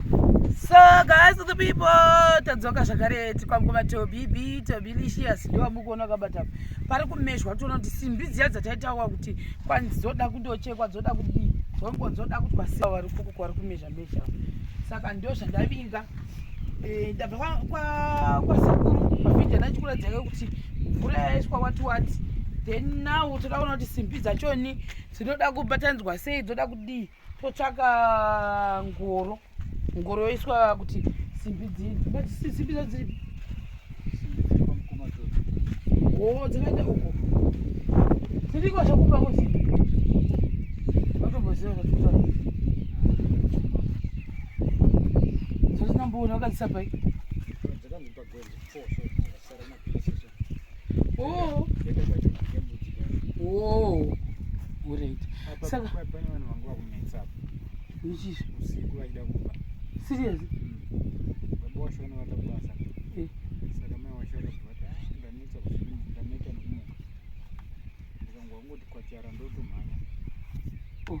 So guys the people tadzoka zvakare tikwamukoma tobibi tobilicious ndiwo amukuona kabata pari kumeshwa toona kuti simbi dziya dzataitawa kuti kwanzi dzoda kundochekwa dzoda kudii dzongo dzoda kuti vasiya vari kuku kwari kumezha mezha saka ndio zvandavinga eh, ndabva kwasekuru mavhidhi anachikuratidza ke kuti mvura yaiswa wati wati then now toda kuona kuti simbi dzachoni dzinoda kubatanidzwa sei dzoda kudii totsvaka ngoro ngoro yoiswa kuti simbi dzii but simbi dza dzii oo dzakaita uko dziriko zvakupa kuti vatomboziva zvatuta zvatinamboona vakadzisa pai Oh. Oh. Alright. Saka pane vanhu vangu vakunetsa apa. Nichizvo. Usiku vaida kuba. Serious? Baba washo vanoda kubasa. Eh. Saka mai washo vakabata ndanetsa kusiku ndaneta nekumuka. Ndikangwa ngoti kwachara ndotumhanya. Oh.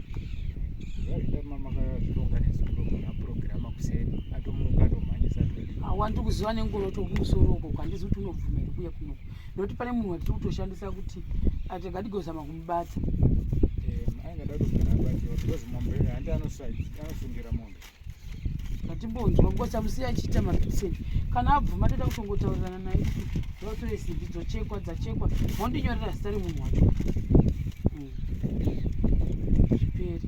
wandiri kuziva nengoro tokumusoro uko kwandizi kuti unobvuma here kuya kuno nokuti pane munhu watiri kutoshandisa kuti atikadigozama kumubata eh, ainge datogara abatiwa because mombe handi anosungira mombe ngatimbonzwa because amusiya achiita mabisen kana abvuma toda kutongotaurirana naye kuti rotore simbi dzochekwa dzachekwa mondinyorera zita remunhu wacho hmm. zviperi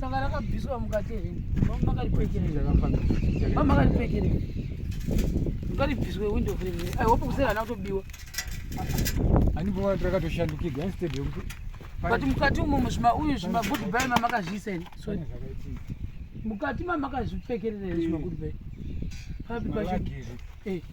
sanga rakabviswa mukati here mamakaripekeremamakaripekerei mukaribviswe window frame here i hope kusera hana kutobiwa anibova tirakatoshandukirwa instead yekuti but mukati umo muzvima uyu zvimagood bay mamakazviisa here sorry mukati mamakazvipfekerera here zvimagood bay papi pacho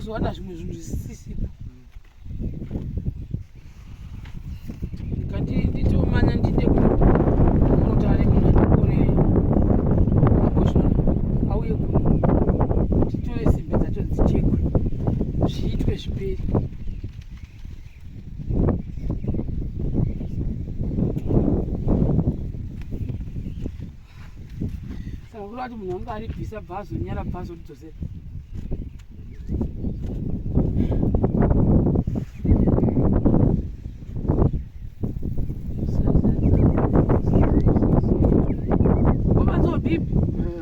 kuzowana zvimwe zvinhu zvisisipo kati nditomanya ndide kunotare munhu anokore makoshona auye kuno titore simbe dzacho dzichekwe zviitwe zviperi kuda kuti munhu wange aribvisa bva azonyara bva azoridzosera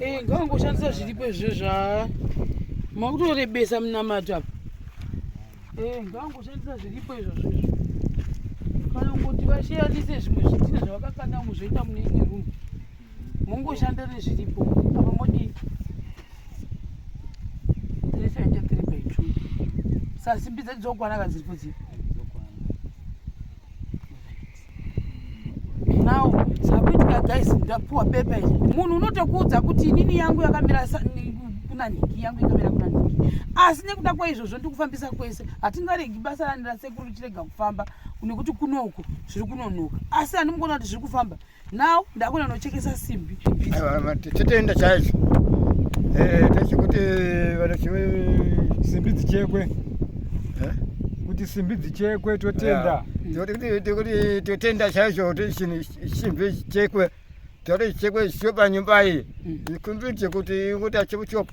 Eh, ngangoshandisa zviripo izvo zva makutorebesa munamato apa eh, ngangoshandisa zviripo izvozvo izvo kana kungoti vashiyanise zvimwe zvidhina zvavakakanda muzvoita mune imwe rumu mongoshanda nezviripo apa modii resaita tiri by two sasimbi dzedu dzokwana kadziripo dzii now zvakuitika guys ndapuwa pepa izvi munhu unotokuudza kuti inini yangu yakamira kuna nhiki yangu yakamira kuna nhiki asi nekuda kwaizvozvo ndikufambisa kwese hatingaregi basa rani rasekuru chirega kufamba nekuti kunouku zviri kunonoka asi handimukuona kuti zviri kufamba now ndakona nochekesa simbi titenda chaizvo eh, tese kuti vanachiwe simbi dzichekwe eh? kuti simbi dzichekwe totenda totenda chaizvo kuti simbi dzichekwe toti chekwe sio panyumba iyi mm. ikumbiri chekuti ingoti achimuchoko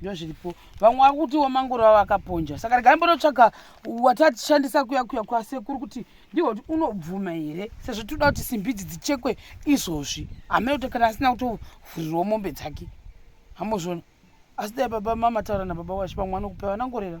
ndozviripo vamwe vari kutiwo mangoro avo akaponja saka regai mbonotsvaga watatishandisa kuya kuya kwasekuru kuti ndiho kuti unobvuma here sezvo tinoda kuti simbi idzi dzichekwe izvozvi hamene kuti kana asina kutovhurirwa mombe dzake hamozvona asi dai baba mama taura nababa wacho vamwe vanokupa vanangorera